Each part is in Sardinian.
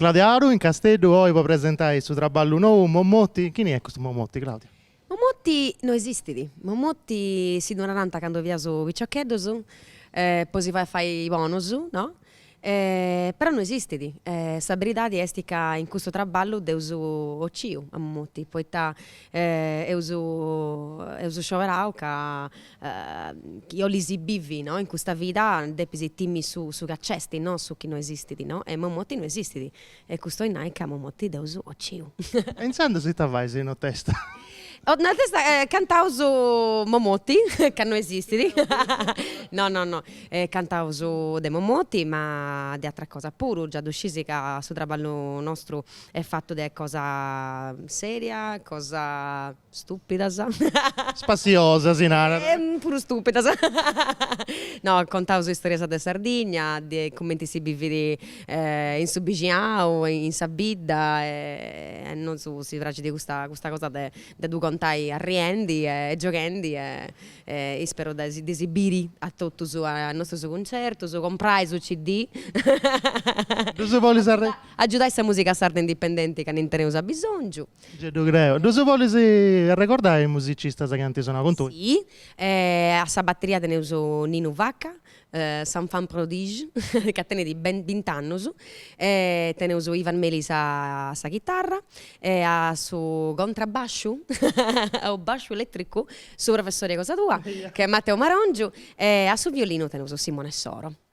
Claudia Aru in Casteddu oi po presentai su traballu nou Momotti, chini est custu Momotti Claudia? Momotti no esistit, Momotti si ddu naranta candu fiaus piciocheddus po si fai fai bonus no E però no esistit. E sa beridadi est ca in custu traballu dd'eus ociu a momoti, poita eus eus scioberau ca chi 'olis bivi no in custa vida depis timiri su su chi nc'est, no su chi no esistit no. E momoti no esistit. E custu 'oit nai ca momoti dd'eus ociu. E intzandus ita fais, no t'est a... no t'est a... cantaus Momoti, ca no esistit. No no no, cantaus de Momoti ma de atera cosa puru, già ddu scisi ca su traballu nostru est fatu de cosa seria, cosa Stupidas. Spassiosas si narat. E puru stupidas. No, contaus istorias de Sardigna, de cumenti si bivit in su bixinau, in sa bidda e a nosu si praxit custa custa cosa de de ddu contai arriendi e gioghendi e e isperu de si de si biri a totus a a nostrus cuncertus, comprai su CD. Ddus bolis arre. Agiudai sa musica sarda indipendenti ca ndi teneus abisongiu. Gei ddu creo. Ddus bolis arregordai is musicistas chi ant sonau cun tui? Si, a sa bateria teneus Ninu Vacca, s'enfant prodige ca tenit bint'annus, teneus Ivan Melis a sa chitarra e a su contrabbasciu o basciu eletricu su professori cosa tua, chi est Matteo Marongiu e a su violinu teneus Simone Soro.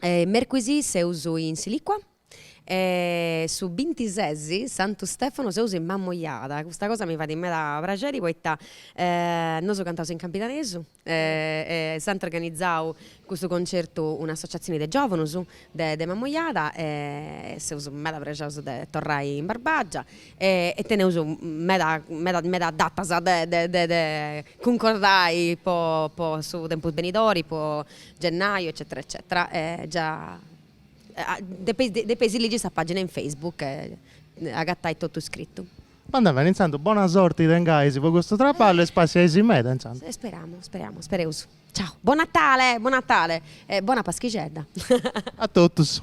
Mercuisi seus in Silicua e su bintises Santu Stefano seus in Mammojada. Custa cosa mi fait meda praxeri poita nosu cantaus in campidanesu e s'ant organizau custu concertu un'associatzioni de giovanus de de Mammojada e seus meda prexaus de torrai in Barbagia e e teneus meda meda meda datas de de de de cuncordai po po su tempus benidori po Gennaju eccetera eccetera e già depe depeis ligi sa pagina in Facebook e agattai totu iscrittu. Bandat beni intzandus bona sorti tengais po custu traballu e spassiaisi meda intzandus. Speramu speramu spereus ciao. Buon Natale buon Natale e bona paschixedda. A totus.